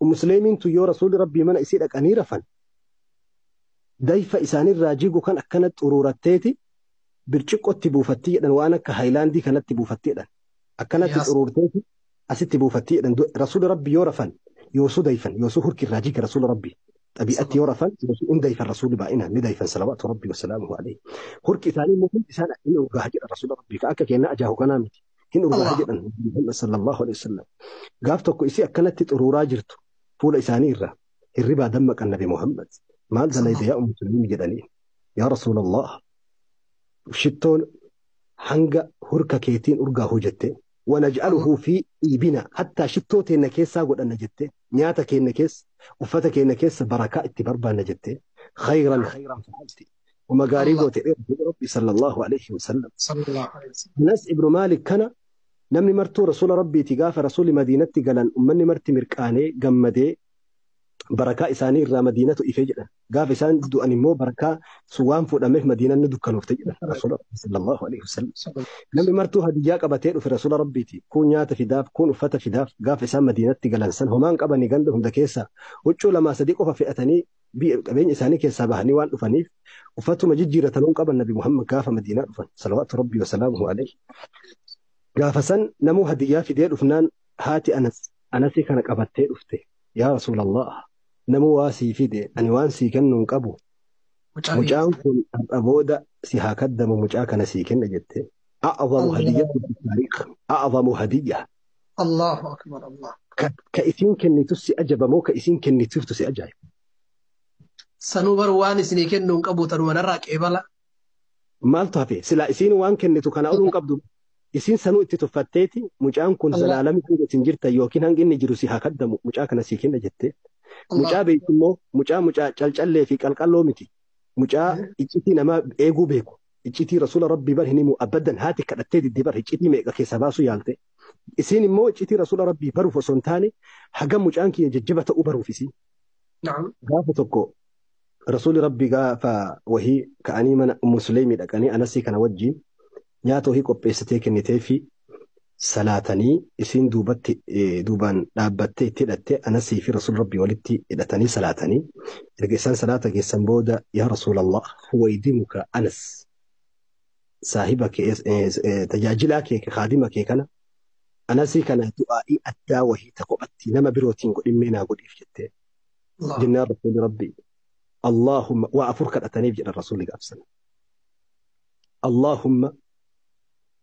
Ummu Suleeymiin tun yoo Rasuulli Rabbii mana isii dhaqanii rafan, dayfa isaanirraa jigu kan akkana xuruuratteeti birciqqotti buufatti jedhan waan akka haayilaandii kanatti buufatti jedhan. Akkanatti Yaa- xuruurteeti asitti buufatti jedhan. Du- Rasuulli Rabbii yoo rafan yoosuu dayfan yoosuu hurki irraa jiga Rasuula Rabbii. Xabi'atti yoo rafan yoosuu hin dayfan Rasuulli baay'inaan ni dayfan salawaatu Rabbii wasalaamuhu alayhi. Hurki isaanii immoo hundi isaan ni urgaaha jedha Rasuula Rabbii. Ka akka keenna ajaahu kanaa miti. hin urgaa'a Allah. jedhan Muhammad sallallahu alaihi wasallam. Gaaf tokko isii akkanatti xuruuraa jirtu fuula isaanii irraa hirribaa dammaqan nabi Muhammad maal dalayde yaa ummu sulaimi jedhanii yaa rasuulallah shittoon hanga hurka keetiin urgaa hojjette wanaj'aluhu fi dhiibina hattaa shittoo teenna keessaa godhanna jette nyaata keenna keessa uffata keenna keessa barakaa itti barbaanna jette khayran khayran fa'alti Uma gaarii Allah. goote dheertuu Rabbi sallallahu alaihi wasallam. Sallallahu alaihi wasallam. Anas ibnu Maalik kana namni martuu rasuula Rabbiiti gaafa rasuuli Madiinatti galan ummanni marti mirqaanee gammadee barakaa isaanii irraa Madiinatu ife jedhan. Gaafa isaan du'an immoo barakaa sun waan fuudhameef Madiinaan ni dukkanoofte jedhan rasuula Rabbi sallallahu alaihi wasallam. Sallallahu alaihi Namni martuu hadiyyaa qabatee dhufe rasuula Rabbiiti. Kuun nyaata fidaaf, kuun uffata fidaaf. Gaafa isaan Madiinatti galan san homaan qabanii ganda hunda keessaa huccuu lamaa sadii qofa fe'atanii biyya qabeenya isaanii keessaa bahanii waan dhufaniif uffatuma jijjiiratan hin qaban nabi Muhammad gaafa Madiinaa dhufan salawaatu rabbii wasalaamuhu alayhi gaafa san namuu hadiyyaa fidee dhufnaan haati anas anasii kana qabattee dhufte yaa rasuulallah namuu waa sii fide ani waan sii kennu hin qabu Mucaa kee mucaan kun har'a booda si haa kaddamu mucaa kana sii kenna jette a'azamu Allahu hadiyyatu fi taariikh a'azamu hadiyya Allahu akbar Allah. Ka, ka isiin kennitu si ajaba moo ka isiin kennituuftu si ajaa'iba? Sanuu bar waan isinii kennuu hin qabu tanuma narraa qeebala. Maaltu hafe? Silaa isiin waan kennitu kana oluu hin qabdu. Isiin sanuu itti tuffatteeti mucaan kun Allah. zalaalami hanga isin jirtan yookiin hanga inni jiru si haa kaddamu mucaa kana sii kenna jettee. Allah. Mucaa beektu immoo mucaa mucaa calcallee fi qalqalloo miti. Mucaa iccitii namaa eeguu beeku. iccitii rasuula rabbii bar hin himuu abaddan haati kadhattee didde bar iccitii meeqa keessaa baasuu yaalte isiin immoo iccitii rasuula rabbii baruuf osoo hin taane hagam mucaan kiyya jajjaba ta'uu baruuf isiin نعم gaafa tokko rasuuli rabbii gaafa wahii ka'anii mana ummu suleymii dhaqanii anasii kana wajjiin nyaata wahii qopheessitee kennitee fi salaatanii isiin duubatti duubaan dhaabbattee itti hidhatte anasii fi rasuul rabbii walitti hidhatanii salaatanii erga isaan salaata geessan booda yaa rasuulallah waydimuka anas saahiba kee tajaajilaa kee kaadima kee kana anasii kana du'aa'ii addaa wahii ta kophatti nama birootiin godhimmee naa godhiif jettee jennaan rasuuli rabbii Allahumma waa afur kadhataniif jedhan rasuuli gaafsan Allahumma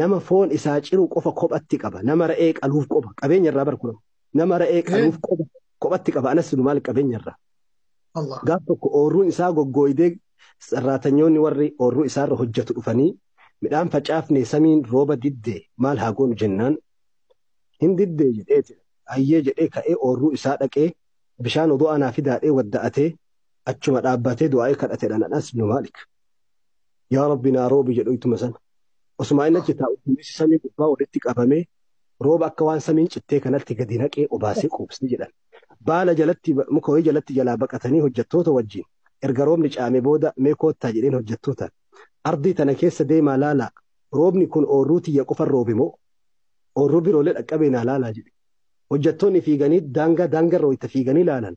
nama foon isaa ciru qofa kophatti qaba nama ra'ee qaluuf qoba qabeenya irraa bar kunam nama ra'ee Ee. qaluuf qoba kophatti qaba anas nu maal qabeenya irraa Allah. gaaf tokko ooruun isaa goggooydee sarraatanyoonni warri oorruu isaarra hojjetu dhufanii midhaan facaafne samiin rooba diddee maal haa goonu jennaan hin diddee jedhee jedhe. ayyee jedhee ka'ee oorruu isaa dhaqee bishaan odoo anaa fidaadhee wadda'atee achuma dhaabbatee du'aa'ee kadhatedhaan anas nu maalik yaa rabbi naa roobi jedhu ittuma sana. Osumaa inni achi taa'u duumessi samii gubbaa walitti qabamee rooba akka waan samiin cittee kanatti gadi naqee obaasee quubsee jedhan. Baala jalatti muka wayii jalatti jalaa baqatanii hojjettoota wajjin erga roobni caame booda mee koottaa jedheen hojjettootaan. Ardii tana keessa deemaa laalaa roobni kun oorruu tiyya qofan roobe moo oorruu biroolee dhaqqabee naa laalaa jedhe. Hojjettoonni fiiganii daangaa daangarra wayita fiiganii laalan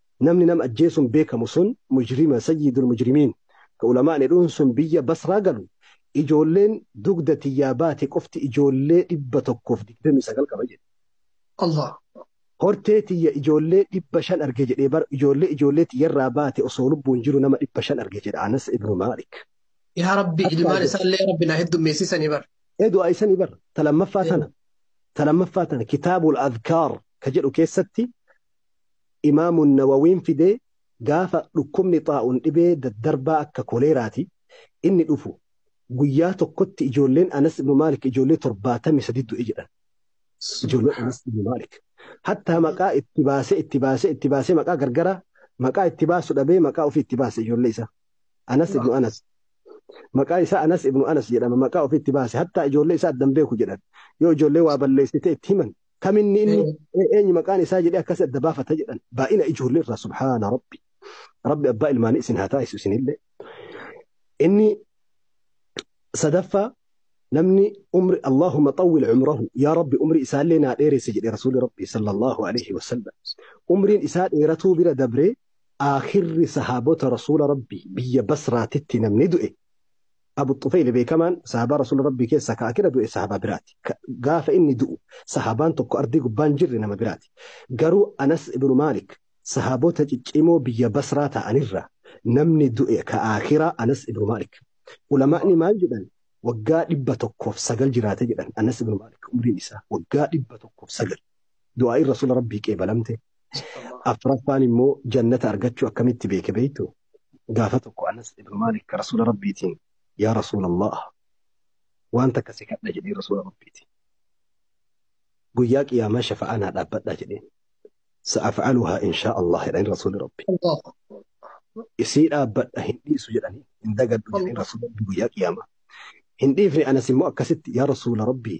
Namni nama ajjeesuun beekamu sun mujrima sayyidul mujrimiin ka ulamaa'ni jedhuun sun biyya Basraa galu ijoolleen dugda tiyyaa baate qofti ijoollee 129 qaba jedhe. Allaah. Hortee tiyya ijoollee 500 arge jedhee bar ijoollee ijoollee tiyyarraa baate osoo lubbuun jiru nama 500 arge jedha Anas ibnu Maalik. Yaa Rabbi Akka ilmaan ajab. isaallee Rabbi naa heddummeessisanii bar. Ee du'aa isanii bar ta lammaffaa tana ta lammaffaa tana kitaabul adkaar ka jedhu keessatti Imaamu Nawawiin fide gaafa dhukkubni xaa'uun dhibee daddarbaa akka koleeraati inni dhufu guyyaa tokkotti ijoolleen Anas ibnu Maalik ijoollee 73 du'e jedhan. Ijoolleen Anas ibnu Maalik. Hattaa maqaa itti baasee itti baasee itti baasee maqaa gargaraa maqaa itti baasu dhabee maqaa ofii itti baase ijoollee isaa. Anas ibnu Anas. Maqaa isaa Anas ibnu Anas jedhama maqaa ofii itti baase hattaa ijoollee isaa addan beeku jedhan. Yoo ijoollee waa balleessite itti himan Kam inni inni ee- eenyu maqaan isaa jedhee akkas adda baafata jedhan. Baay'ina ijoollee irraa subhaana rabbi. Rabbi abbaa ilmaanii isin haa taasisu isinillee. Inni sadaffaa namni umri Allahumma xawwil umrahu yaa rabbi umri isaallee naa dheeresse jedhe rasuuli rabbi sallallahu alaihi wasallam. Umriin isaa dheeratuu bira dabree aakhirri sahaabota rasuula rabbi biyya basraatitti namni du'e Abu Xufeyli beekamaan sahaabaa Rasuula Rabbii keessaa ka akira du'e sahaabaa biraati. Ka gaafa inni du'u sahaabaan tokko ardii gubbaa hin jirre nama biraati. Garuu Anas ibnu Maalik sahaabota ciccimoo biyya Basraa ta'anirraa namni du'e ka akiraa Anas ibnu Maalik. Ulamaa'ni maal jedhan? Waggaa 109 jiraate jedhan Anas ibnu Maalik umriin isaa waggaa 109. Du'aa'iin Rasuula Rabbii qeebalamte. Afraffaan immoo jannata argachuu akkamitti beeke beektuu? gaafa tokko Anas ibn Maalik ka Rasuula Rabbiitiin yaa Rasuula Allah waan takka si kadha jedhee Rasuula Rabbiitiin guyyaa qiyaamaa shafa'aa naa dhaabbadhaa jedheen sa'afa'aluhaa inshaa Allah jedhanii Rasuuli Rabbi الله isii dhaabbadha hin dhiisu jedhanii hin dagadhu jedhanii الله Rasuula Rabbi guyyaa qiyaamaa hin dhiifne Anas immoo akkasitti yaa Rasuula Rabbii